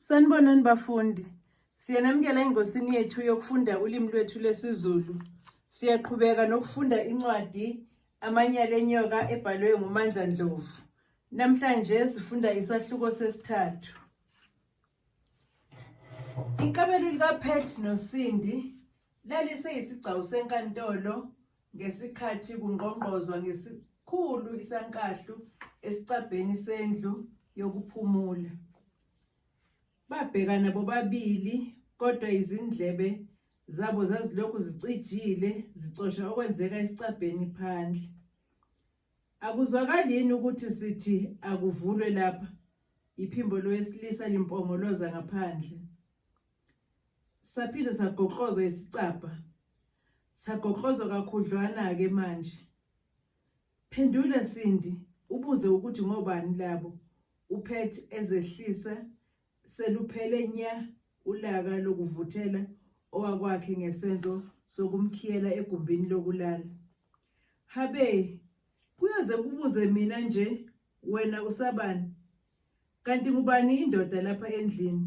Sanibonani bafundi. Siyanamukela engosini yethu yokufunda ulimi lwethu lesiZulu. Siyaqhubeka nokufunda incwadi Amanyala enyoka ebhalwe nguMandla Ndlovu. Namhlanje sifunda isahluko sesithathu. Ikamelo likaPet noSindi laliseyisigcawu senkantolo ngesikhathi kungqongqozwa ngesikhulu isankahlu esicabheni sendlu yokuphumula. Babhekana bobabili kodwa izindlebe zabo zazilokhu zicijile zicosha okwenzeka esicabheni phandle. Akuzwakali yini ukuthi sithi akuvulwe lapha? Iphimbo lowesilisa limpongoloza ngaphandle. saphinde sagoqozwa isicabha sagoqozwa kakhudlwana-ke manje phendula sindi ubuze ukuthi ngobani labo uphet ezehlisa seluphele nya ulaka lokuvuthela owakwakhe ngesenzo sokumkhiyela egumbini lokulala habe kuyoze kubuze mina nje wena usabani kanti ngubani indoda lapha endlini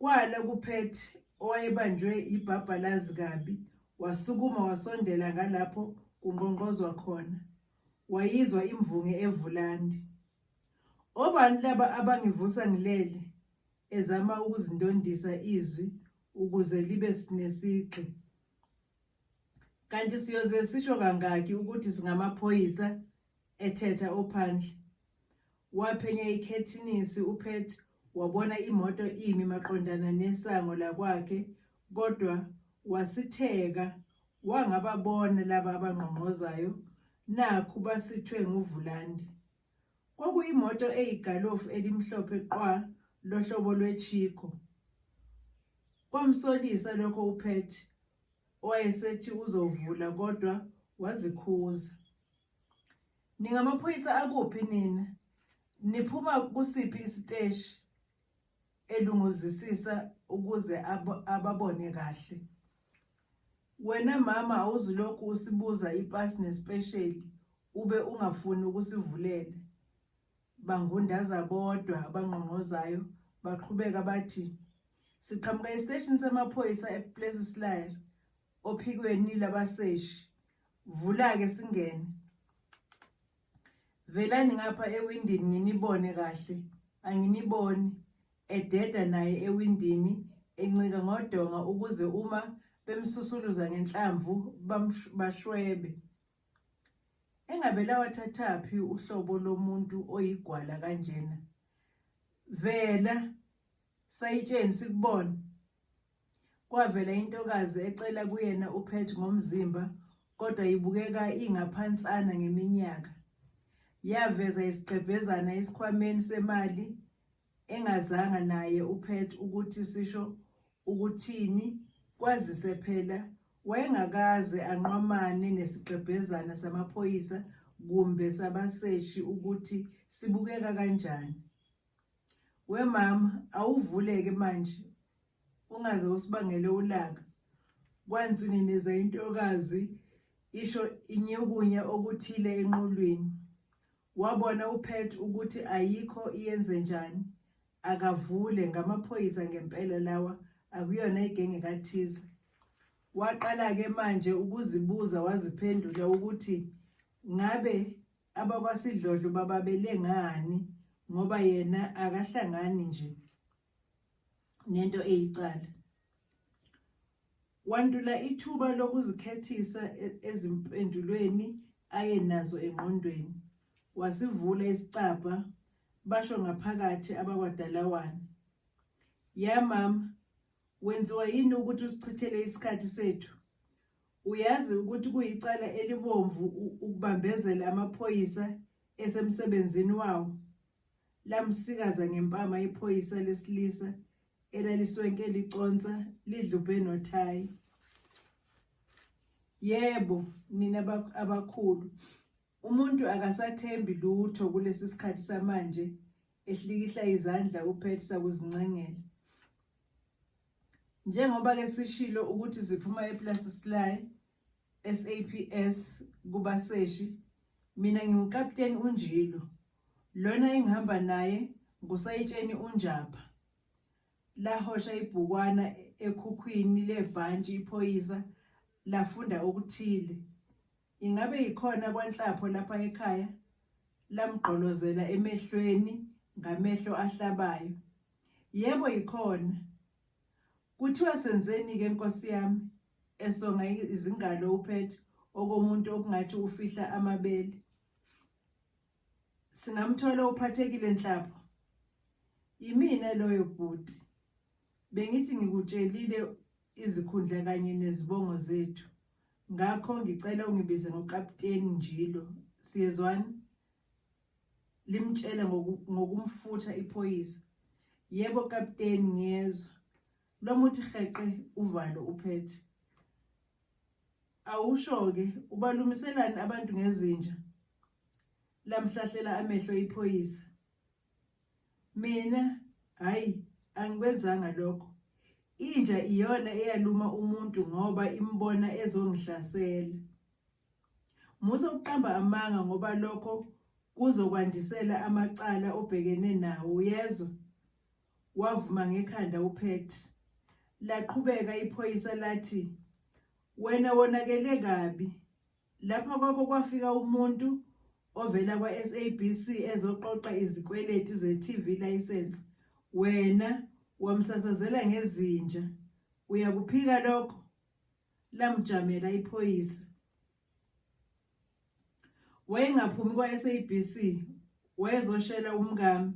Kwala kuPet owayebanjwe yibhabhalazi kabi wasukuma wasondela ngalapho kunqonqozwa khona. Wayizwa imvunge evulandi. Obani laba abangivusa ngilele? ezama ukuzindondisa izwi ukuze libe sinesigqi. Kanti siyoze sisho kangaki ukuthi singamaphoyisa ethetha ophandle. Waphenya ikhethinisi uPet wabona imoto imi maqondana nesango lakwakhe kodwa wasitheka wangababona laba abangqongqozayo nakhu basithwe nguvulandi. Kwakuyimoto eyigalofu elimhlophe qwa lohlobo lweChico. Kwamsolisa lokho uPat owayesethi uzovula kodwa wazikhuza. Ningamaphoyisa akuphi nina? Niphuma kusiphi isiteshi? elunguzisisa ukuze ab ababone kahle wena mama awuzulokhu usibuza ipasi nespesheli ube ungafuni ukusivulela bangundaza bodwa abangqongqozayo baqhubeka bathi siqhamuka esiteshini samaphoyisa ePlessislaer ophikweni labaseshi vula-ke singene Velani ngapha ewindini nginibone kahle. Anginiboni. Ededa naye ewindini encika ngodonga ukuze uma bemsusuluza ngenhlamvu bashwebe. Engabe lawathathaphi uhlobo lomuntu oyigwala kanjena? Vela Sayitsheni sikubona. Kwavela intokazi ecela kuyena uPet ngomzimba kodwa ibukeka ingaphansana ngeminyaka. Yaveza isigqebhezana esikhwameni semali engazanga naye uPet ukuthi sisho ukuthini kwazise phela wayengakaze anqwamane nesigqebhezana samaphoyisa kumbe sabaseshi ukuthi sibukeka kanjani. wemama awuvuleke manje ungaze usibangele ulaka kwanzini neza intokazi isho inyukunye okuthile enqulwini wabona uphet ukuthi ayikho iyenze njani akavule ngamaphoyisa ngempela lawa akuyona igenge kathize waqala-ke manje ukuzibuza waziphendula ukuthi ngabe abakwasidlodlo bababelengani ngoba yena akahlangani nje nento eyicala wantula ithuba lokuzikhethisa e-, ezimpendulweni aye nazo engqondweni wasivula isicabha basho ngaphakathi abakwadalawane ya mama Wenziwa yini ukuthi usichithele isikhathi sethu? Uyazi ukuthi kuyicala elibomvu ukubambezela amaphoyisa esemsebenzini wawo. Lamsikaza ngempama iphoyisa lesilisa elaliswenke liconsa lidlubhe nothayi. Yebo, nina abakhulu, umuntu akasathembi lutho kulesi sikhathi samanje ehlikihla izandla uPet sakuzincengela. Njengoba ke sishilo ukuthi ziphuma ePlace Sly SAPS kubaseshi mina ngiwukapteni uNjilo lona engihamba naye ngusayitsheni uNjapha lahosha ibhukwana ekhukhwini lebhantshi iphoyisa lafunda okuthile Ingabe yikhona kwanhlapho lapha ekhaya lamgqolozela emehlweni ngamehlo ahlabayo. Yebo yikhona. Kuthiwa senzeni ke Nkosi yami esonga izingalo uphethe okomuntu okungathi ufihla amabele. Singamthola uphathekile nhlapho. Yimina loyo bhuti. Bengithi ngikutshelile izikhundla kanye nezibongo zethu. ngakho ngicela ungibize ngokapteni njilo siyezwani limtshela ngokumfutha iphoyisa yebo kapteni ngiyezwa lomuthi heqe uvalo uphethe awusho-ke ubalumiselani abantu ngezinja lamhlahlela amehlo iphoyisa Mina hayi angikwenzanga lokho. Inja iyona eyaluma umuntu ngoba imbona ezongihlasela. Musa ukuqamba amanga ngoba lokho kuzokwandisela amacala obhekene nawo uyezwa. Wavuma ngekhanda uPet. Laqhubeka iphoyisa lathi wena wonakele kabi Lapha kwakho kwafika umuntu ovela kwa-SABC ezoqoqa izikweletu ze-TV license wena wamsasazela ngezinja uyakuphika lokho lamjamela iphoyisa wayengaphumi kwa-SABC wayezoshela umkami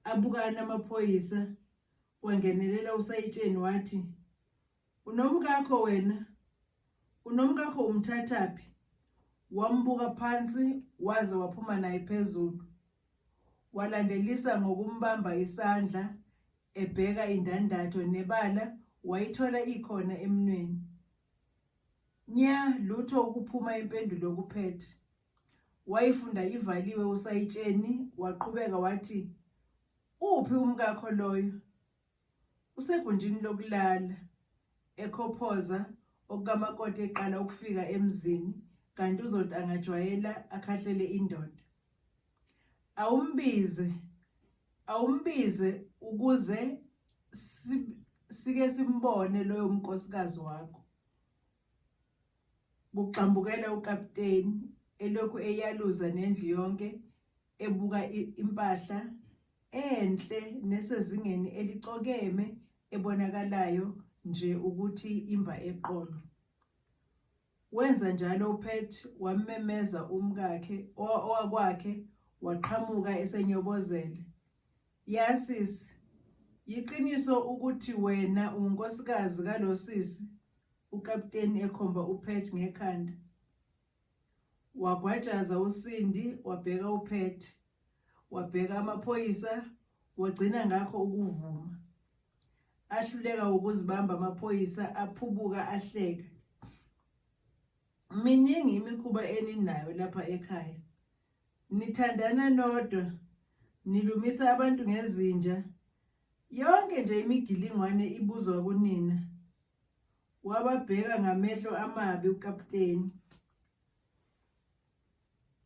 abukana amaphoyisa wangenelela usayitsheni wathi Unomkakho wena. Unomkakho umthathaphi? Wambuka phansi waze waphuma naye phezulu. Walandelisa ngokumbamba isandla ebheka indandatho nebala wayithola ikhona emnweni. Nya lutho ukuphuma impendulo okuphethe. Wayifunda ivaliwe usayitsheni waqhubeka wathi uphi umkakho loyo? Usegunjini lokulala ekhophoza okukamakoti eqala ukufika emzini kanti uzoti angajwayela akhahlele indoda. Awumbize awumbize ukuze sike simbone loyo mnkosikazi wakho. Kugxambukela ukapteni elokhu eyaluza nendlu yonke ebuka impahla enhle nesezingeni elicokeme ebonakalayo nje ukuthi imba eqolo. Wenza njalo uPet wammemeza umkakhe owakwakhe waqhamuka esenyobozele. Yasisi, yiqiniso ukuthi wena unkosikazi kalosisi, ukapteni ekhomba uPet ngekhanda. Wagwajaza uSindi wabheka uPat. Wabheka amaphoyisa wagcina ngakho ukuvuma. Ahluleka ukuzibamba amaphoyisa aphubuka ahleka. Miningi imikhuba eninayo lapha ekhaya. Nithandana nodwa, nilumisa abantu ngezinja. Yonke nje imigilingwane ibuzwa kunina. wababheka ngamehlo amabi ukaputeni.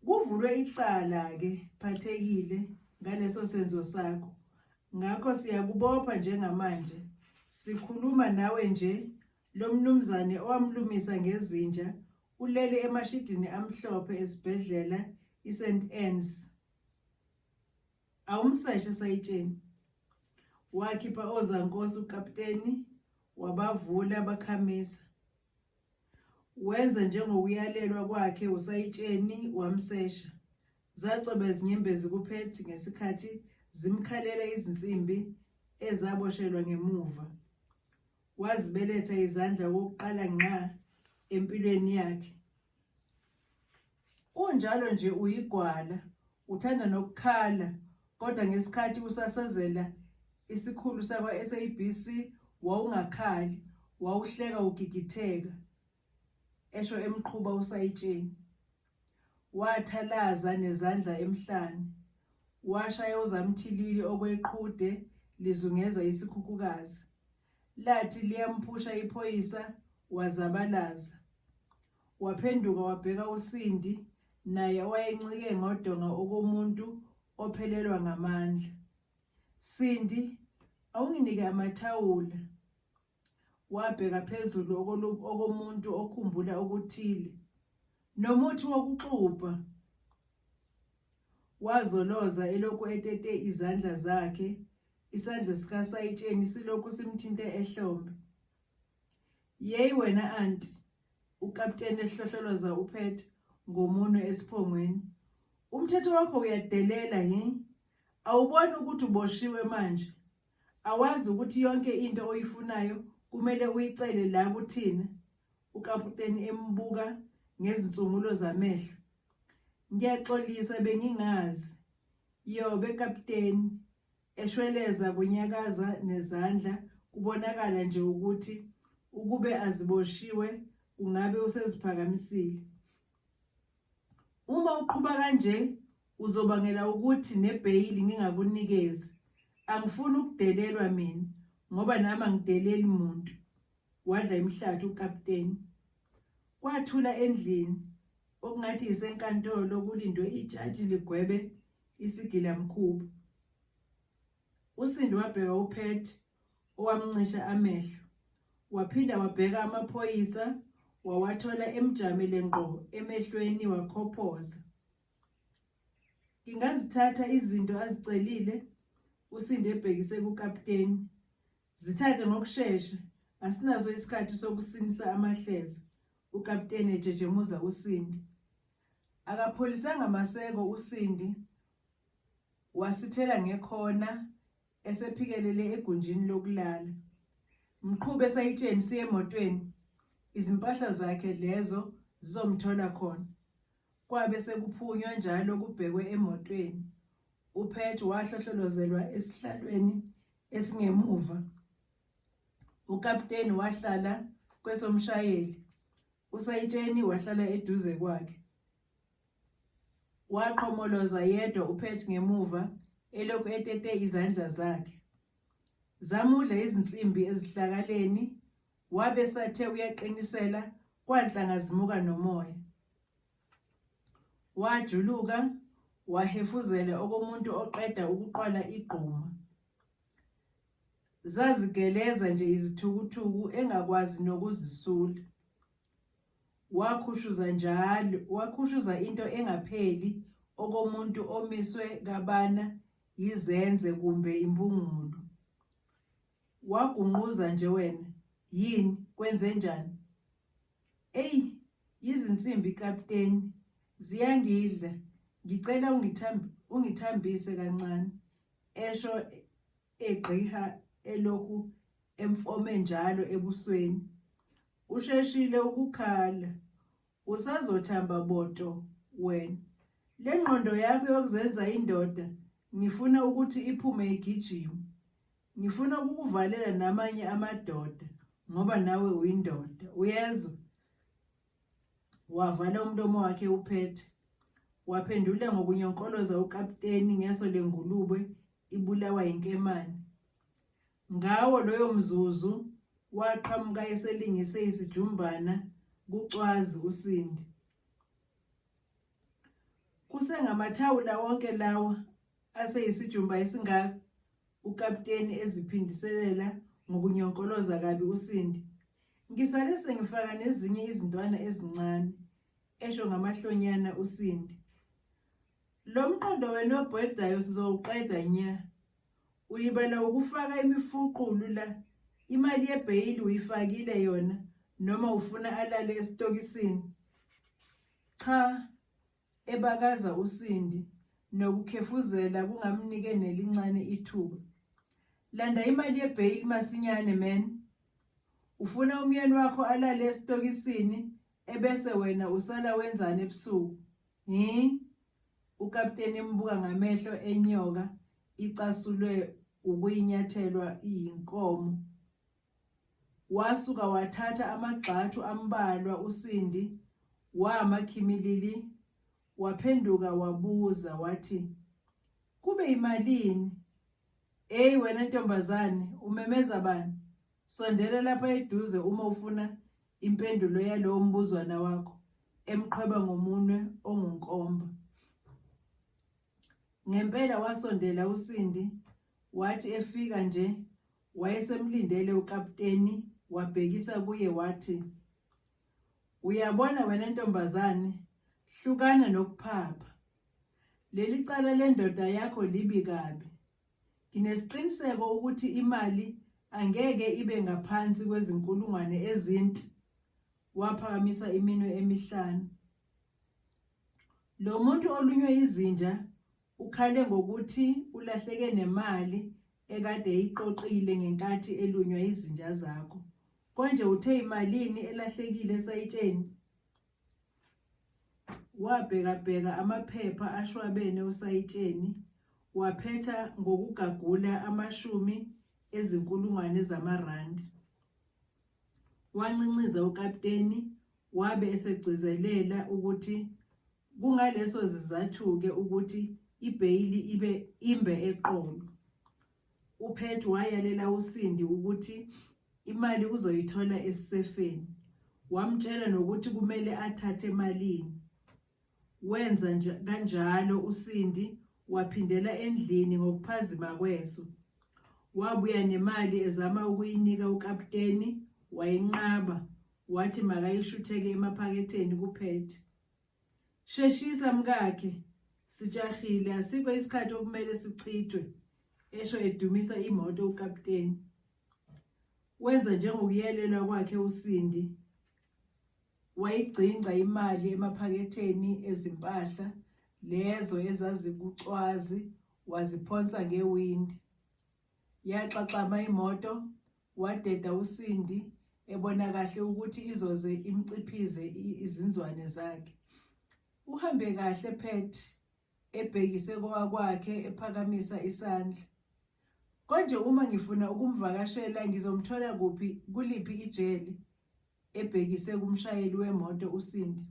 Kuvulwe icala-ke phathekile ngaleso senzo sakho, ngakho siyakubopha njengamanje. Sikhuluma nawe nje lo mnumzane owamlumisa ngezinja ulele emashidini amhlophe esibhedlela iSt Anne's. Awumseshe sayitsheni. Wakhipha ozankosi ukapteni wabavula bakhamisa. Wenza njengokuyalelwa kwakhe usayitsheni wamsesha. Zacweba izinyembezi kuphethi ngesikhathi zimkhalela izinsimbi ezaboshelwa ngemuva. Wazibeletha izandla kokuqala ngqa empilweni yakhe. Unjalo nje uyigwala, uthanda nokukhala kodwa ngesikhathi usasazela isikhulu sakwa-SABC wawungakhali, wawuhleka ugigitheka, esho emqhuba usayitsheni. Wathalaza nezandla emhlane, washaya uzamthilili okweqhude lizungeza isikhukhukazi. Lathi liyamphusha iphoyisa wazabalaza. Waphenduka wabheka uSindi naye owayencike ngodonga okomuntu ophelelwa ngamandla. Sindi, awunginike amathawula. Wabheka phezulu okomuntu okhumbula okuthile. Nomuthi wokuxubha. Wazoloza elokhu etete izandla zakhe Isandla sikaSayitsheni silokhu simthinte ehlombe. Yeyi wena anti, ukapteni ehlohloloza uphethe ngomunwe esiphongweni. Umthetho wakho uyadelela hi? Awuboni ukuthi uboshiwe manje? Awazi ukuthi yonke into oyifunayo kumele uyicele la kuthina? Ukaputeni embuka ngezinsungulo zamehlo. Ngiyaxolisa bengingazi. Yobe kapteni eshweleza kunyakaza nezandla kubonakala nje ukuthi ukube aziboshiwe ungabe useziphakamisile. Uma uqhuba kanje uzobangela ukuthi nebheyili ngingakunikezi. Angifuni ukudelelwa mina ngoba nami angideleli muntu. Wadla imhlathi ukapteni. Kwathula endlini Okungathi yisenkantolo kulindwe ijaji ligwebe isigilamkhuba. Usindi wabheka uPet owamncisha amehlo. Waphinda wabheka amaphoyisa wawathola emjamile ngqo emehlweni wakhophoza. Ngingazithatha izinto azicelile usinde ebhekise kukapteni. Zithathe ngokushesha, asinaso isikhathi sokusinisa amahleza, ukapteni ejejemuza uSindi. Akapholisanga maseko uSindi wasithela ngekhona esephikelele egunjini lokulala. Mqhubi esayitsheni siye emotweni, izimpahla zakhe lezo zizomthola khona. Kwabe sekuphunywa njalo kubhekwe emotweni. UPet wahlohlolozelwa esihlalweni esingemuva. Ukapteni wahlala kwesomshayeli. Usayitsheni wahlala eduze kwakhe. Waqhomoloza yedwa uPet ngemuva elokhu etete izandla zakhe. Zamudla izinsimbi ezihlakaleni wabe sathe uyaqinisela kwanhla ngazimuka nomoya. Wajuluka wahefuzela okomuntu oqeda ukuqwala igquma. Zazigeleza nje izithukuthuku engakwazi nokuzisula. Wakhushuza njalo, wakhushuza into engapheli okomuntu omiswe kabana yizenze kumbe imbungulu. Wagunquza nje wena, yini kwenzenjani? Eyi yizinsimbi kapteni ziyangidla ngicela ungithambise kancane esho egqiha elokhu emfome njalo ebusweni usheshile ukukhala usazothamba boto wena le ngqondo yakho yokuzenza indoda ngifuna ukuthi iphume igijima Ngifuna ukukuvalela namanye amadoda ngoba nawe uyindoda. Uyezwa? Wavala umlomo wakhe uphethe. Waphendula ngokunyonkoloza ukapteni ngeso lengulube ibulawa yinkemane. Ngawo loyo mzuzu waqhamuka eselingise isijumbana kucwazi usindi. Kusengamathawula wonke lawa Aseyisijumba esingaka ukapteni eziphindiselela ngokunyonkoloza kabi uSindi. Ngisale sengifaka nezinye izintwana ezincane, esho ngamahlonyana uSindi. Lo mqondo wena obhedayo sizowuqeda nya. Ulibala ukufaka imifuqulu la. Imali yebheyili uyifakile yona noma ufuna alale esitokisini? Cha, ebakaza uSindi nokukhefuzela kungamnike nelincane ithuba. Landa imali yebail masinyane man. Ufuna umyeni wakho alale esitokisini ebese wena usala wenzani ebusuku? Hi? Ukapteni embuka ngamehlo enyoka icasulwe ukuyinyathelwa iyinkomo. Wasuka wathatha amagxathu ambalwa uSindi, wama khimilili, waphenduka wabuza wathi, Kube imalini? Eyi wena ntombazane, umemeza bani? Sondela lapha eduze uma ufuna impendulo yalowo mbuzwana wakho, emqhweba ngomunwe ongunkomba. Ngempela wasondela uSindi Wathi efika nje wayesemlindele ukapteni wabhekisa kuye wathi, Uyabona wena ntombazane, hlukana nokuphapha. Leli cala lendoda yakho libi kabi. Nginesiqiniseko ukuthi imali angeke ibe ngaphansi kwezinkulungwane ezinti. Waphakamisa iminwe emihlanu. Lo muntu olunywe izinja Ukhale ngokuthi ulahleke nemali ekade eyiqoqile ngenkathi elunywa izinja zakho. Konje uthe imalini elahlekile esayitsheni? Wabhekabheka amaphepha ashwabene osayitsheni, waphetha ngokugagula amashumi ezinkulungwane zamarandi. Wancinciza ukapteni wabe esegcizelela ukuthi Kungaleso zizathu-ke ukuthi ibheyili ibe imbe eqolo. UPhethu wayalela uSindi ukuthi imali uzoyithola esisefeni. Wamtshela nokuthi kumele athathe emalini. Wenza nje kanjalo uSindi waphindela endlini ngokuphazima kweso. Wabuya nemali ezama ukuyinika ukaputeni wayinqaba wathi makayishutheke emaphaketheni kuPhethu. Sheshisa mkakhe sijahile asikho isikhathi okumele sichithwe esho edumisa imoto ukapteni wenza njengokuyelelwa kwakhe uSindi wayigcingca imali emaphaketheni ezimpahla lezo ezazikucwazi waziphonsa ngewindi Yaxaxama imoto, wadeda uSindi ebona kahle ukuthi izoze imciphize izinzwane zakhe. Uhambe kahle Pat ebhekise kowakwakhe ephakamisa isandla. Konje uma ngifuna ukumvakashela ngizomthola kuphi kuliphi ijele ebhekise kumshayeli wemoto uSindi.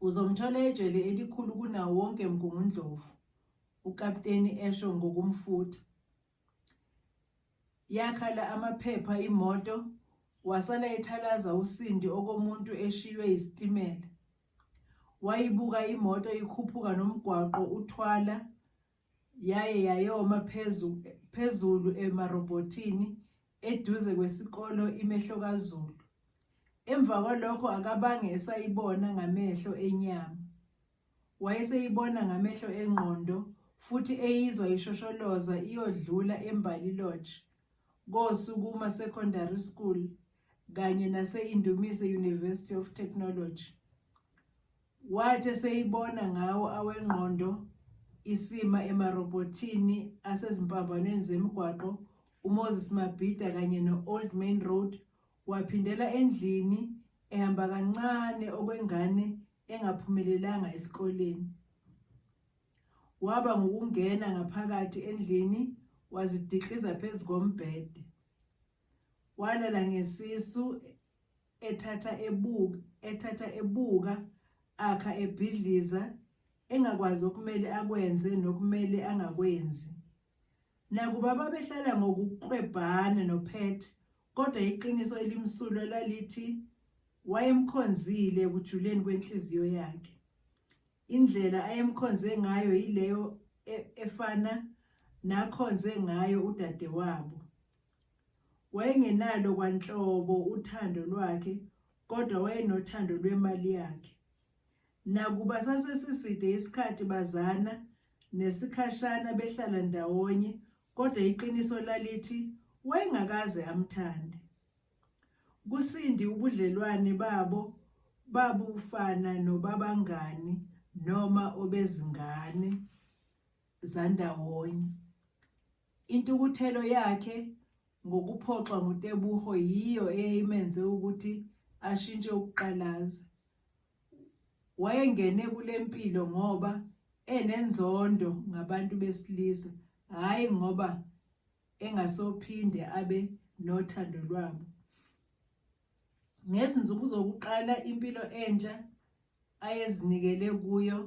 Uzomthola ejele elikhulu kunawo wonke Mgungundlovu. ukapteni esho ngokumfutha. Yakhala amaphepha imoto wasala ethalaza usindi okomuntu eshiywe isitimela. Wayibuka imoto ikhuphuka nomgwaqo uthwala yaye yayoma phezu phezulu emarobhothini eduze kwesikolo imehlo kaZulu. Emva kwalokho akabange esayibona ngamehlo enyama. Wayeseyibona ngamehlo engqondo futhi eyizwa ishosholoza iyodlula eMbali Lodge, koSukuma Secondary School kanye nase-Indumise University of Technology. Wathi eseyibona ngawo awengqondo isima emarobhothini asezimpambanweni zemigwaqo uMoses Mabhida kanye no-Old Main Road Waphindela endlini ehamba kancane okwengane engaphumelelanga esikoleni. Waba ngukungena ngaphakathi endlini wazidikliza phezu kombhede. Walala ngesisu ethatha ebuka ethatha ebuka akha ebhidliza engakwazi okumele akwenze nokumele angakwenzi. Nakuba babehlala ngokuklwebhana noPet Kodwa iqiniso elimsulwa lalithi wayemkhonzile ekujuleni kwenhliziyo yakhe. Indlela ayemkhonze ngayo yileyo e-, efana nakhonze ngayo udadewabo. Wayengenalo kwanhlobo uthando lwakhe kodwa wayenothando lwemali yakhe. Nakuba sasesiside isikhathi bazana nesikhashana behlala ndawonye Kodwa iqiniso lalithi wayengakaze amthande. KuSindi ubudlelwane babo babufana nobabangani noma obezingane zandawonye. Intukuthelo yakhe ngokuphoxwa nguTebogo yiyo eyayimenze ukuthi ashintshe ukuqalaza. wayengene kule mpilo ngoba enenzondo ngabantu besilisa hhayi ngoba engasophinde abe nothando lwabo ngezinsuku zokuqala impilo entsha ayezinikele kuyo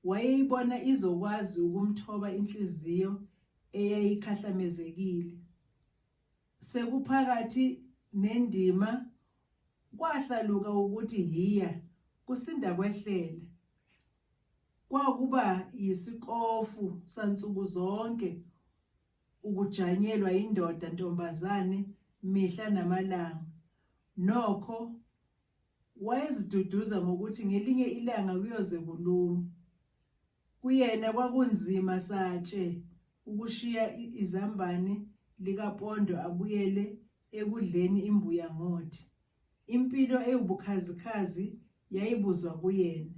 wayeyibona izokwazi ukumthoba inhliziyo eyayikhahlamezekile Sekuphakathi nendima kwahlaluka ukuthi hiya kusinda kwehlele. Kwakuba yisikofu sansuku zonke ukujanyelwa indoda ntombazane mihla namalanga. Nokho wayeziduduza ngokuthi ngelinye ilanga kuyoze kulume. Kuyena kwakunzima satshe ukushiya izambane likaPondo abuyele ekudleni imbuya ngothi. Impilo ewubukhazikhazi yayibuzwa kuyena.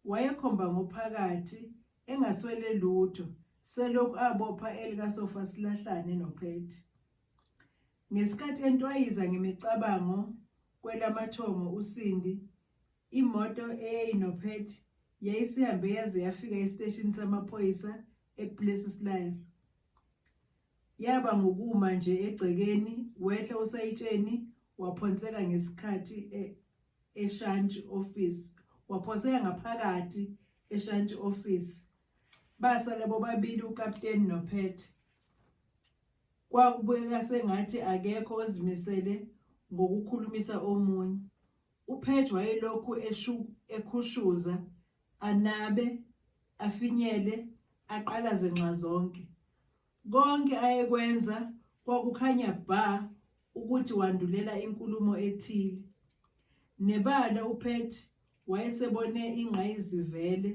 Wayekhomba ngophakathi engaswele lutho selokhu abopha elikasofa silahlane nophethi. Ngesikhathi entwayiza ngemicabango kwelamathongo uSindi Imoto eyayinophethi yayisihambe yaze yafika esiteshini samaphoyisa ePlessislaer. Yaba ngokuma nje egcekeni wehla usayitsheni waphonseka ngesikhathi e- eshantshi office waphoseka ngaphakathi eshantshi office basala bobabili ukapteni nophethe kwakubukeka sengathi akekho ozimisele ngokukhulumisa omunye UPage wayelokhu ekhushuza, anabe, afinyele, aqalaze nxazonke. Konke ayekwenza kwakukhanya bha ukuthi wandulela inkulumo ethile. Nebala uPet wayesebone ingqayizivele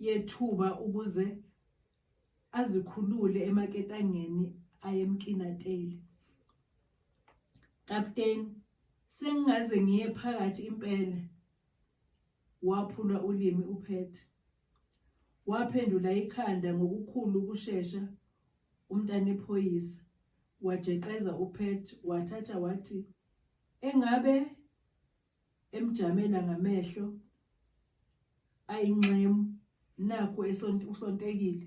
yethuba ukuze azikhulule emaketangeni ayemkinateli kapteni sengingaze ngiye phakathi impela waphula ulimi uphet waphendula ikhanda ngokukhulu ukushesha umntana ephoyisa wajeqeza uphet wathatha wathi engabe emjamela ngamehlo ayinxemu nakho usontekile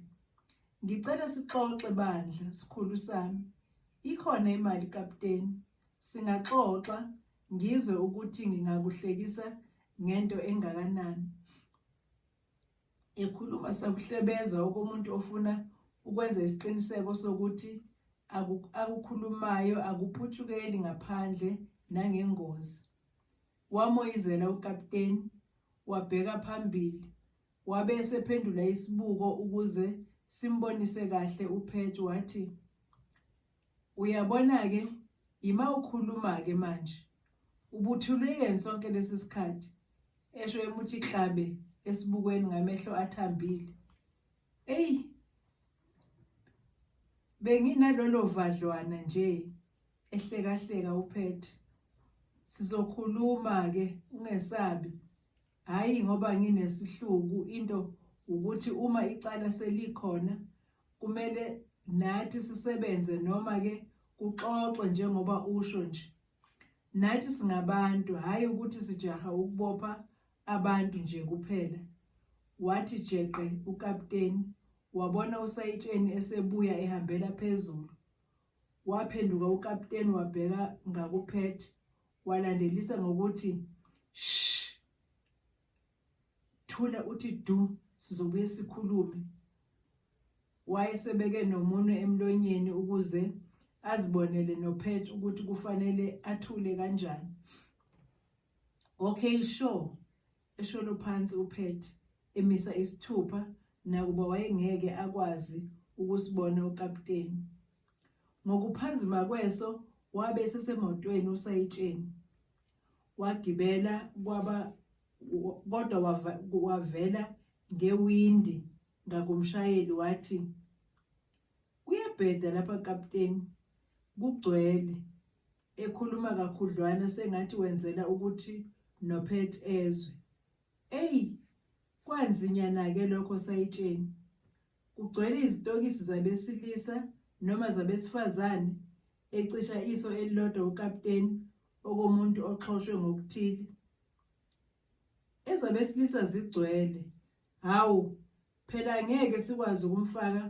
ngicela sixoxe bandla sikhulu sami ikhona imali kapteni singaxoxa ngizwe ukuthi ngingakuhlekisa ngento engakanani Ekhuluma sakuhlebeza okomuntu ofuna ukwenza isiqiniseko sokuthi akukhulumayo akuphutshukeli ngaphandle nangengozi. Wamoyizela ukapteni, wabheka phambili, wabe esephendula isibuko ukuze simbonise kahle uPatch wathi, Uyabona ke yima ukhuluma ke manje ubuthulwe yini sonke lesi sikhathi esho emuthi hlabe esibukweni ngamehlo athambile eyi benginalolo vadlwana nje ehlekahleka uphethe sizokhuluma ke ungesabi hayi ngoba nginesihluku into ukuthi uma icala selikhona Kumele nathi sisebenze noma ke kuxoxwe njengoba usho nje. Nathi singabantu hhayi ukuthi sijaha ukubopha abantu nje kuphela. Wathi jeqe ukapteni wabona usayitsheni esebuya ehambela phezulu. Waphenduka ukapteni wabheka ngakuphethe walandelisa ngokuthi shh thula uthi du sizobuye sikhulume wayesebeke nomunwe emlonyeni ukuze azibonele nophet ukuthi kufanele athule kanjani okay sure esholo phansi uphet emisa isithupha nakuba wayengeke akwazi ukusibona ukapteni ngokuphazima kweso wabe sesemotweni usayitsheni wagibela kwaba kodwa wavela ngewindi ngakumshayeli wathi kuyabheda lapha kapteni kugcwele ekhuluma kakhudlwana sengathi wenzela ukuthi nophet ezwe eyi kwanzinyana-ke lokho sayitsheni kugcwele izitokisi zabesilisa noma zabesifazane ecisha iso elilodwa ukapteni okomuntu oxhoshwe ngokuthile ezabesilisa zigcwele hawu phela ngeke sikwazi ukumfaka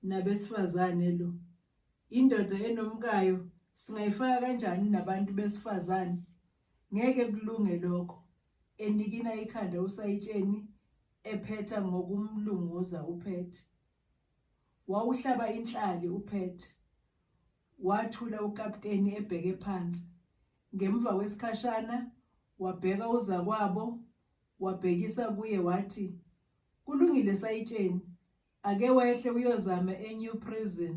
nabesifazane lo indoda enomkayo singayifaka kanjani nabantu besifazane ngeke kulunge lokho enikina ikhanda usayitsheni ephetha ngokumlunguza uphethe wawuhlaba inhlali uphethe Wathula ukapteni ebheke phansi. Ngemva kwesikhashana wabheka uzakwabo wabhekisa kuye wathi, Kulungile sayitsheni, ake wehle uyozama eNew Prison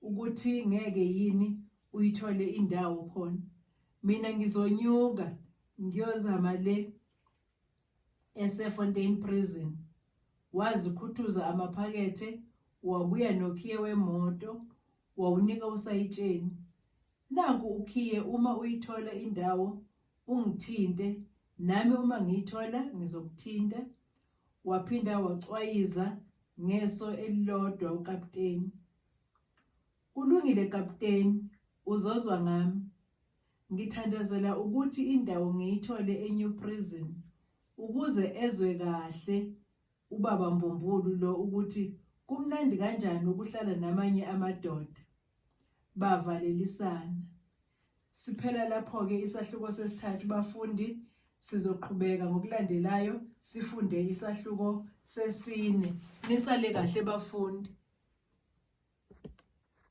ukuthi ngeke yini uyithole indawo khona. Mina ngizonyuka ngiyozama le esefontein prison wazikhuthuza amaphakethe wabuya nokhiye wemoto wawunika usayitsheni nanku ukhiye uma uyithola indawo ungithinte nami uma ngiyithola ngizokuthinta waphinda wacwayiza ngeso elilodwa ukapteni Kulungile kapteni, uzozwa ngami. Ngithandazela ukuthi indawo ngiyithole eNew Prison ukuze ezwe kahle ubaba Mbumbulu lo ukuthi kumnandi kanjani ukuhlala namanye amadoda. Bavalelisana. Siphela lapho-ke isahluko sesithathu bafundi, sizoqhubeka ngokulandelayo sifunde isahluko sesine. Nisale kahle bafundi.